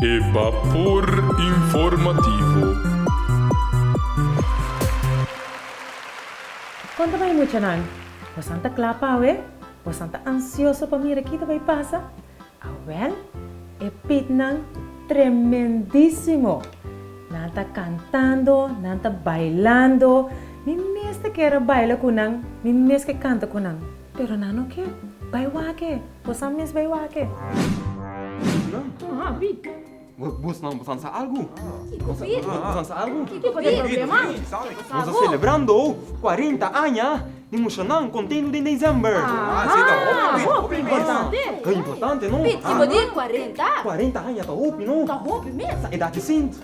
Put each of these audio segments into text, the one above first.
E Bapor Informativo. Kon ta bai muchanan? Bosan ta kla pa awe? Bosan ta ansioso pa mira ki ta bai pasa? Awèl, e pitnan tremendísimo! Nan ta kantando, nan ta bailando. Mi mes ta kere baila ku nan, mi mes ke kanta ku nan. Pero nan no ke bai wake. Bo san mes bai wake. Bos nan bosan sa algu? Nos a selebrando cuarenta aña di Musha nan Contendo den December. Ta importante no? Cuarenta aña ta hopi no? Sa edad di Sint.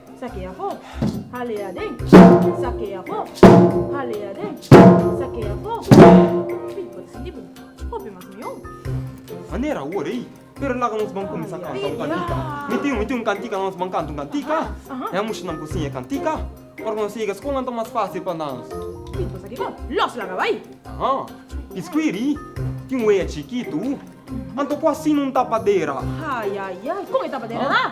Sakea fo, halea den. Sakea fo, halea den. Sakea fo. Ey, por esaki bo. Hopi mas mion. Manera awor ey. Pero laga nos ban cuminsa canta un cantica. Mi tin, mi tin un cantica nos ban canta un cantica. Ahá. Ey mushunan por siña e cantica. Ora cu nos yega scol nan ta mas facil pa nos. Ey, por esaki bo. Los laga bay. Ahá. Y scuiri tin wea chikitu. Anto cu asina un tapadera. Ay, ay, ay. Con e tapadera nan?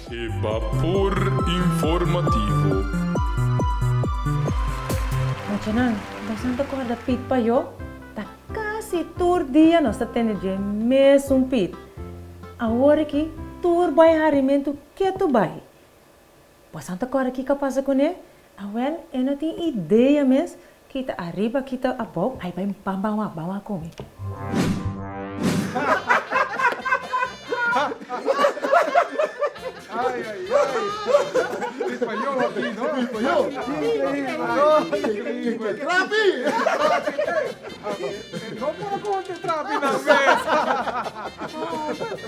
E Bapor Informativo. Machanan, Dashan ta kòrda Pit pa yo? Ta kasi tur dia nos ta tende dje mesun Pit. Awor aki tur bai harimentu ketu bai. Bosan ta kòrda kiko a pasa kuné? Awèl, e no tin idea mes Kita ariba kita abou ai bai pan ban wak ban wak komi.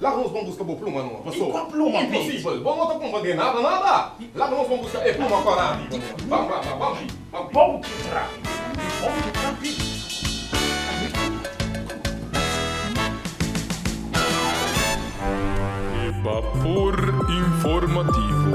Laga nos bon buska bo pluma nua, paso. I kon pluma pi? Imposibel! Bo no ta kumpa den nada nada! Laga nos bon buska e pluma kua rapi bo nua. Bam bam bam, bam pi, bam pi. Bom ke trapi, i bom ke trapi. E Bapor Informativo.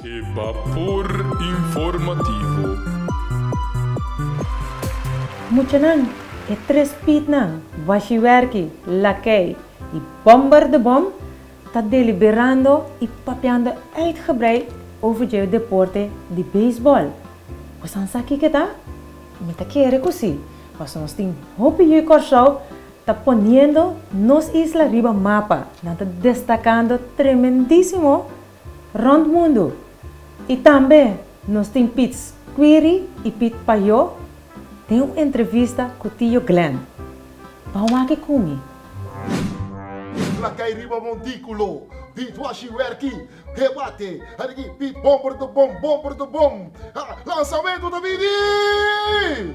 E Bapor Informativo. Muchanan, e tres piitnan, Washi Werki, Lakei i Bomber de Bom, ta deliberando i papiando uitgebreid over dje deporte di beisbòl. Bosan sa kiko ta? Mi ta kere ku si, paso nos tin hopi yu Kòrsou ta poniendo nos isla riba mapa, nan ta destakando tremendísimo! Rond mundu. I tambe nos tin Piet Squiri i Piet Payot den un entrevista ku Tio Glen. Bao maki kumi. Trakai riba montikulo Dishwashing Werki Debate Harigi Piet Bomber de Bom Bomber de Bom Lansamentu ta bini!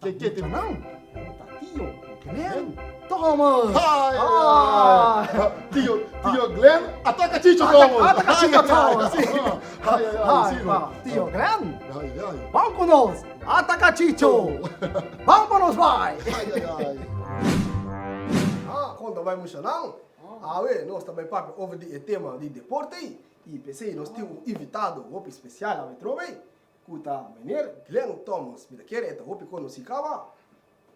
Ke kete nan? Ta tio Glen. Tomo! Tio tio Glen a taka chicho tomo. A taka chicho tomo si. Tio Glen ban ku nos a taka chicho. Ban pa nos bai. Konta bai musha nan. Awe nos ta bai papia over di e tema di deporte i pesei nos tin un invitado hopi spesial awe trobe. Cu ta Meneer Glenn Thomas. Mi ta kere e ta hopi conoci caba.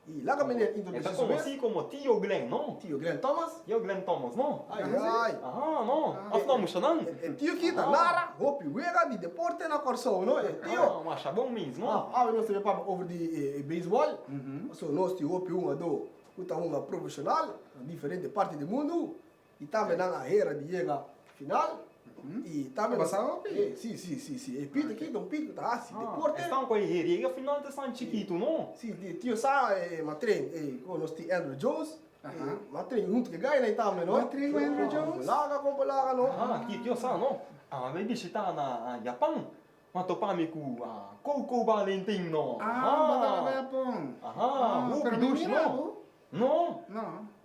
Y laga Meneer introduci su mes. E ta conoci como Tio Glenn, no? Tio Glenn Thomas? Tio Glenn Thomas, no? Ay, ay. Aha, no? Asina musha nan. E tio ki ta nara hopi wega di deporte na Corsou, no? E tio. Aha, masha bon mes, no? Awe nos ta bira papia over di e baseball. Paso nos tin hopi hungador cu ta hunga profesional na diferente parti di mundu. Y tambe nan a hera di yega final. Y tambe nan. A basá hopi. E, sí, sí, sí, sí. E pit aki ta un pit cu ta haci deporte. Ah, esnan cu a hera yega final ta esnan chikitu, no? Sí, di Tio Sa e matren, e cu nos tin Andrew Jones. E matren hunto cu e guy nai tambe, no? Matren cu Andrew Jones. Compa laga, compa laga, no? Ah, aki e Tio Sa, no? Ami a bai bishitá na Japan. Mi a topá mi cu Koukou Valentin, no? Ah, bo tabata na Japon. Aha, hopi dus, no? No. No.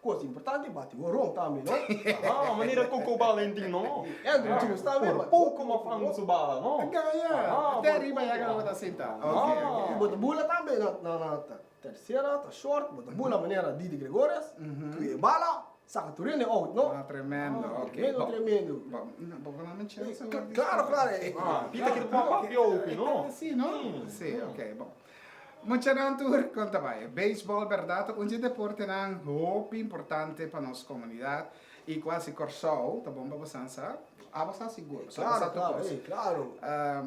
Cos importante bati horon tambe no. Aha manera coco Valentin no. Andrew Jones tambe bati horon. Por poco maf angu su bala no. Te gaya. Te riba ya gana bo ta sinta. Y bo ta bula tambe na tercera ta short bo ta bula manera Didi Gregorius cu e bala saca tur hende out no. Ah tremendo ok. Tremendo tremendo. Bo con ami chance. Claro claro. Pita keda cu a papia hopi no. Sim no. Si ok bo. Muchanan tur konta bai e beisbòl bèrdat ta un di e deportenan hopi importante pa nos komunidat i ku hasi Kòrsou ta bon pa bosan sa. A bosa sigur, bosa ta sa tur kos.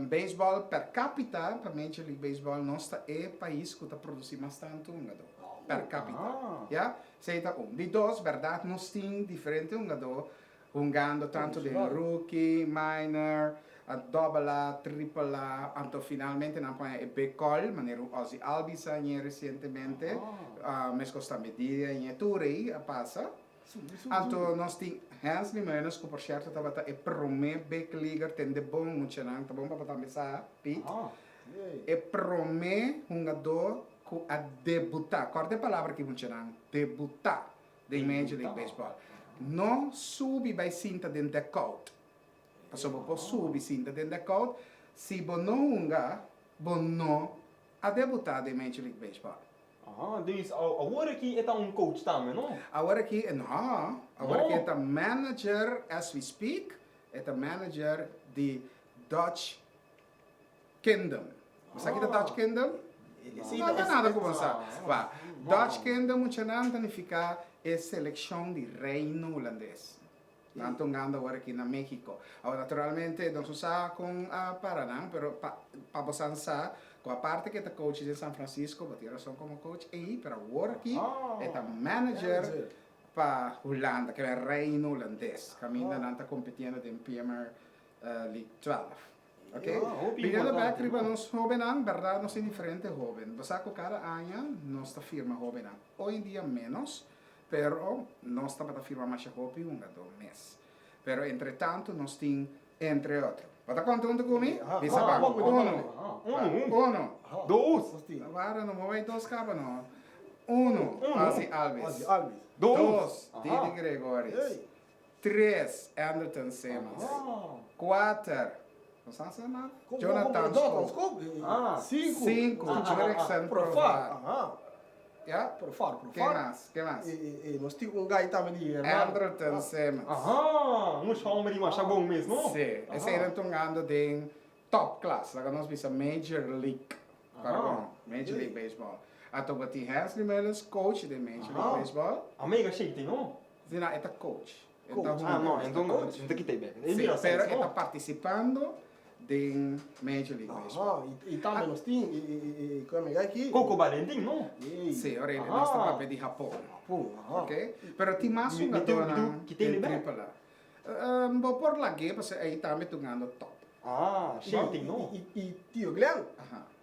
Beisbòl per kápita pa Major League Baseball nos ta e pais ku ta produsí mas tantu hungadó per kápita, ya. Esei ta un. Di dos, bèrdat nos tin diferente hungadó Hungando tanto den rookie, minor, dobbel A, triple A, anto finalmente nan poña e big call, manera un Ozzie Albies a ñe recientemente, mesco Stan Bedilia a ñe, tur ey a pasa. Anto nos tin Hensley Meunens cu por cierto tabata e prome big leaguer ten de bon, muchanan ta bon pa bo tambe sa, Piet, e prome hungador cu a debuta, corda e palabra aki muchanan, debuta! Den Major League Baseball no subi bai sinta den dugout pasobra bo por subi sinta den dugout si bo no hunga bo no a debuta den Major League Baseball. Ahaa, dus awor aki e ta un coach tambe no? Awor aki e no, awor aki e ta manager as we speak, e ta manager di Dutch Kingdom. Bo sa kita Dutch Kingdom? No ta nada ku bo sa. Wak, Dutch Kingdom muchanan ta nifiká e selekshon di Reino Hulandes. Nan ta un ganda awor aki na México. Awor naturalmente nos no sa kon a para nan, pero pa pa bosan sa ku aparte ke ta coach den San Francisco, bo tin rason komo coach ei, pero awor aki e ta manager pa Hulanda, ke Reino Hulandes, kaminda nan ta kompitiendo den Premier di twelf ok primer lugar triba nos hobennan berdad nos tin diferente hoben bo sa cu cada aña nos ta firma hobennan oy en dia menos pero nos tabata firma masha hopi hunga do mes pero entre tanto nos tin entre otro bo ta conta hunto cu mi bisa pa uno uno dos wara no moe dos caba no uno Alvi Alvis dos Didi Gregoris. Tres, Anderton Simmons. Kuater, Jonathan Schoop. Sinku, Jurickson Profar. Ken mas? Ken mas? Anderton Simmons. Si, eseinan ta hungando den Top class, laga nos bisa Major League, pardon, Major League Baseball. A topa tin Hensley Melis, coach den Major League Baseball. A mega shakty no? Sí, nan e ta coach. E ta hunga, e ta coach. Enton mi ta kita e bek. Sí, pero e ta participando den Major League Baseball. Y tambe nos tin e ku a mega aki. Coco Valentin no? Sí, ora nos ta papia di Japón. Japón, aha. Ok, pero tin mas hungadónan den Triple A. Bo por lag'é pasobra ei tambe ta ungando top. I tio Glen,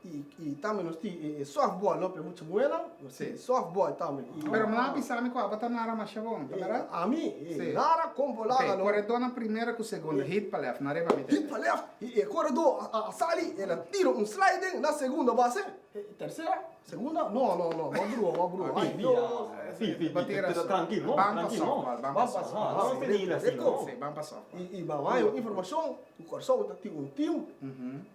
i tambe nos tin e softball no, p'e mucha muhernan, nos tin e softball tambe. Pero manda bisa mi ku abo ta nara masha bon, ta berat? Ami? E nara kon bo laga no. Ok, koredó na primera ku segunda hit pa lèf, na riba mi ta yega. Hit pa lèf, i e koredó a sali, el a tira un slide den na segunda base, e tersera. Segunda, no, no, no, bo a brua, bo a brua. Ay, no, si, si, bo tin rason. Trankil, no, trankil, no. Ban pa sòf, ban pa sòf. De tok fe, ban pa sòf. I ban wak yon informashon ku Kòrsou ta tin un tim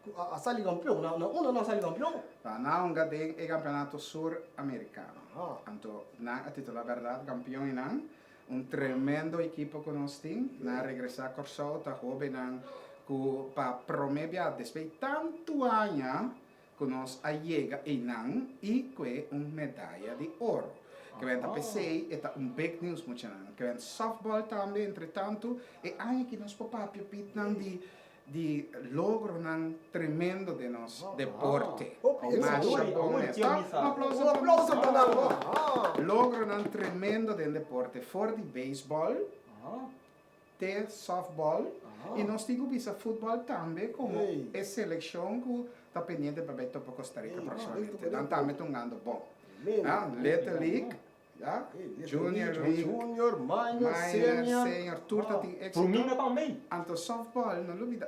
ku a sali kampion. Na unda nan a sali kampion? Ba nanga den e Kampeonato Suramerikano. Anto nan a titulá bèrdat kampion i nan un tremendo ekipo ku nos tin. Nan a regresá Kòrsou, ta hóbennan ku pa promé biaha, despui tantu aña, Cu nos a yega eynan y cue un medaya di oro. Kebent a pesey e ta un big news muchanan. Kebent softball tambe entre tanto e aña aki nos por papia pitnan di di logronan tremendo den nos deporte. Masha bon mes. Ta un aplauso pa Masha. Logronan tremendo den deporte for di baseball te softball y nos tin cu bisa football tambe como e seleccion cu ta pendiente pa bay topa Costa Rica proximamente. Nan tambe ta hungando bon. Little League, Junior League, Minor, Senior tur ta tin exito. Anto softball no lo bida.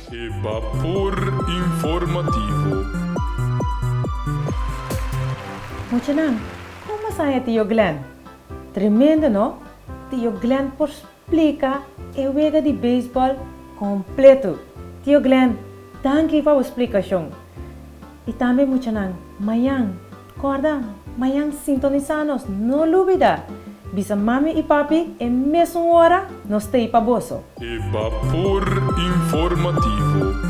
E Bapor Informativo. Muchanan, kon masaya tio Glen? Tremendo no! Tio Glen por splika e wega di beisbòl kompletu! Tio Glen, danki pa bo splikashon! I tambe muchanan, mañan Corda, mañan sintonisa nos, no lubida! Bisa mami y papi e mesun hora nos ta y pa boso. E Vapor Informativo.